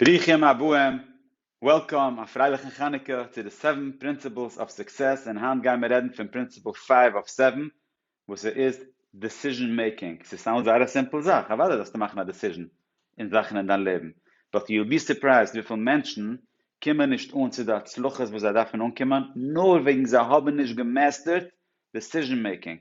ברוכים הבאים, Welcome, א פרייליכן חנוכה, צו די סעווען פרינסיפלס אוו סוקסעס, און היינט גיימער רעדן פון פרינסיפל פייוו אוו סעווען, וואס עס איז דעסיזשען מעיקינג, ס'איז סתם זייער א סימפל זאך, אוודאי זאלסטו מאכן א דעסיזשען אין זאכן אין דיין לעבן, באט יו וויל בי סורפרייזד וויפיל מענטשן קומען נישט אן צו די הצלחות וואס זיי דארפן אנקומען נאר וועגן זיי האבן נישט געמעסטערט דעסיזשען מעיקינג,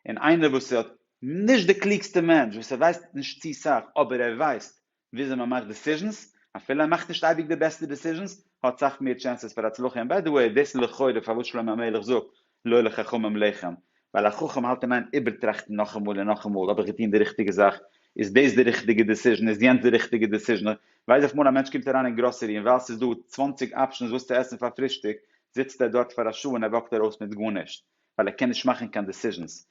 און איינער וואס איז נישט די קלוגסטע מענטש, וואס ער ווייסט נישט צו סאך, אבער ער ווייסט וויאזוי מען מאכט דעסיזשענס, אפילו ער מאכט נישט אייביג די בעסטע דעסיזשענס, האט סאך מער טשענסעס פאר הצלחה, און ביי די וועי דאס איז לכאורה פארוואס שלמה המלך זאגט לא לחכמים לחם, ווייל א חכם האלט אין איין איבערטראכטן נאכאמאל און נאכאמאל, האב איך געטון די ריכטיגע זאך? איז דאס די ריכטיגע דעסיזשען? איז יענץ די ריכטיגע דעסיזשען? איך ווייס אויף מאל א מענטש קומט אריין אין גראסערי און ווייל ס'איז דא צוואַנציק אפשענס וואס צו עסן פאר פרישטאג זיצט ער דארט פאר א שעה און ער וואקט ארויס מיט גארנישט, ווייל ער קען נישט מאכן קיין דעסיזשענס,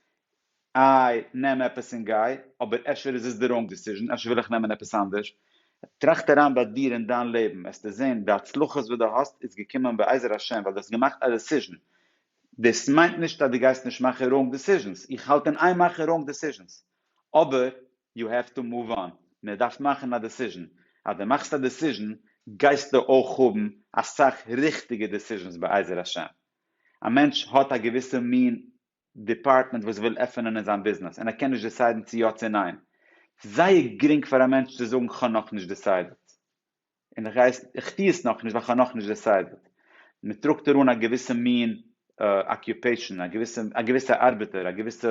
איי נעם עפעס און גיי, אבער אפשר איז עס די ראנג דיסיזשען, אפשר וויל איך נעמען עפעס אנדערש, טראכט אריין ביי דיר אין דיין לעבן וועסטו זען די הצלחות וואס די האסט איז געקומען בעזר השם ווייל די האסט געמאכט א דיסיזשען, דאס מיינט נישט אז די גייסט נישט מאכן ראנג דיסיזשענס, איך האלט אין איין מאכן ראנג דיסיזשענס, אבער יו העוו טו מאוו אן, מען דארף מאכן א דיסיזשען, אז די מאכסט א דיסיזשען גייסטו אויך האבן אסאך ריכטיגע דיסיזשענס בעזר השם, א מענטש האט א געוויסע מין דעפארטמענט וואס וויל עפענען אין זיין ביזנעס און ער קען נישט דיסיידן צו יא צו ניין, זייער גרינג פאר א מענטש צו זאגן כ'האב נאכנישט דיסיידעט, און איך גיי עס, איך טו עס נאכנישט ווייל כ'האב נאכנישט דיסיידעט. מען טראגט אריין א געוויסע מין אקיופעישאן, א געוויסע, א געוויסע ארבעטער, א געוויסע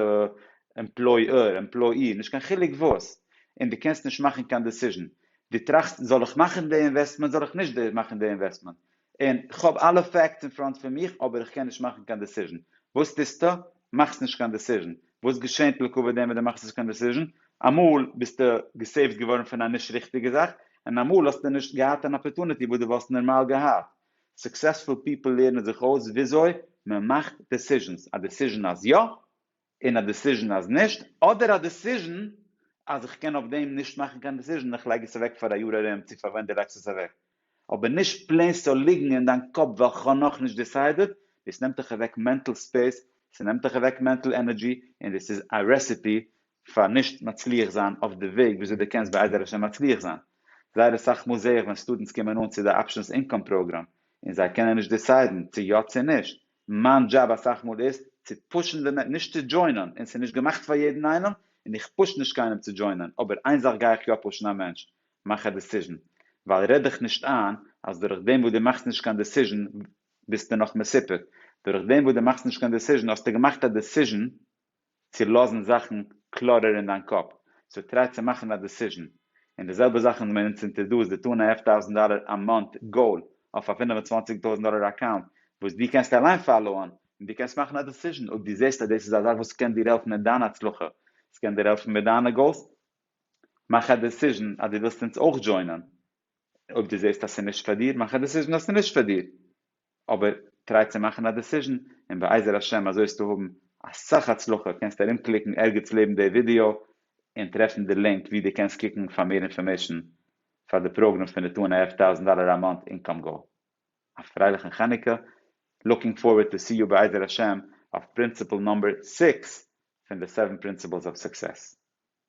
עמפלויער, עמפלאי, נישט קיין חילוק וואס, און דו קענסט נישט מאכן קיין דעסיזשן. דו טראכסט, זאל איך מאכן די אינוועסטמענט, זאל איך נישט מאכן די אינוועסטמענט? און כ'האב אלע פעקטס אין פראנט פון מיך אבער איך קען נישט מאכן קיין דעסיזשן. וואס טוסטו? מאכסט נישט קיין דעסיזשן. וואס געשענט לקבוע דעם ווען דו מאכסט נישט קיין דעסיזשן? אמאל ביסטו געסעיווט געווארן פון א נישט ריכטיגע זאך, און אמאל האסטו נישט געהאט אן אפערטוניטי וואס דו וואלסט נארמאל געהאט. סוקסעספול פיפל לערנען זיך אויס וויאזוי מ'מאכט דעסיזשנס. א דעסיזשן אז יא, און א דעסיזשן אז נישט, אדער א דעסיזשן אז איך קען אויף דעם נישט מאכן קיין דעסיזשן, איך לייג עס אוועק פאר א יאר ארום צו פאר ווען דו לייגסט עס אוועק, אבער נישט פלעין ס'זאל ליגן אין דיין קאפ ווייל כ'האב נאכנישט דעסיידעט, דאס נעמט דיך אוועק מענטל ספעיס, ס'נעמט דיך אוועק מענטל ענערדזשי, און דאס איז א רעסעפי פאר נישט מצליח זיין אויף די וועג וויאזוי דו קענסט בעזר השם מצליח זיין. זייער אסאך מאל זע איך ווען סטודענטס קומען אן צו די אפשענס אינקאם פראגראם און זיי קענען נישט דעסיידן צו יא צו נישט, מיין דזשאב אסאך מאל איז צו פושן די מענ נישט צו דזשוינען און ס'איז נישט געמאכט פאר יעדן איינעם און איך פוש נישט קיינעם צו דזשוינען אבער איין זאך גיי איך יא פושן א מענטש מאך א דעסיזשן ווייל רעד דיך נישט איין אז דורך דעם וואס דו מאכסט נישט קיין דעסיזשן ביסטו נאך מסופק דורך דעם וואס דו מאכסט נישט קיין דעסיזשן האסטו געמאכט א דעסיזשן צו לאזן זאכן קלארער אין דיין קאפ, סאו טריי צו מאכן א דעסיזשן, און די זעלבע זאך ווען מען נוצט אינטערדאס די טו ענד א האלף טויזענט דאלער א מאנט גאול אויף א פֿינף און צוואַנציק טויזענט דאלער אקאונט וואס דו קענסט אליין פאלאוען, און דו קענסט מאכן א דעסיזשן אויב דו זעסט אז דאס איז א זאך וואס קען דיר העלפן אין דיין הצלחה, סקען דיר העלפן מיט דיינע גאולס, מאך א דעסיזשן אז דו ווילסט אונז אויך דזשוינען, אויב דו זעסט אז ס'איז נישט פאר דיר, מאך א דעסיזשן אז ס'איז נישט פאר דיר, אבער טריי צו מאכן א דעסיזשן, און בעזר השם אזוי וועסטו האבן אסאך הצלחה, קענסט ארום קליקן ערגעץ לעבן די ווידעא און טרעפן די לינק ווי דו קענסט קוקן פאר מער אינפארמעישן פאר די פראגרעם פון די טו ענד א האלף טאוזענט דאלער א מאנט אינקאם גאול. א פרייליכן חנוכה, לוקינג פארווערד טו סי יו בעזר השם אויף פרינסיפל נאמבער סיקס פון די סעווען פרינסיפלס אוו סוקסעס.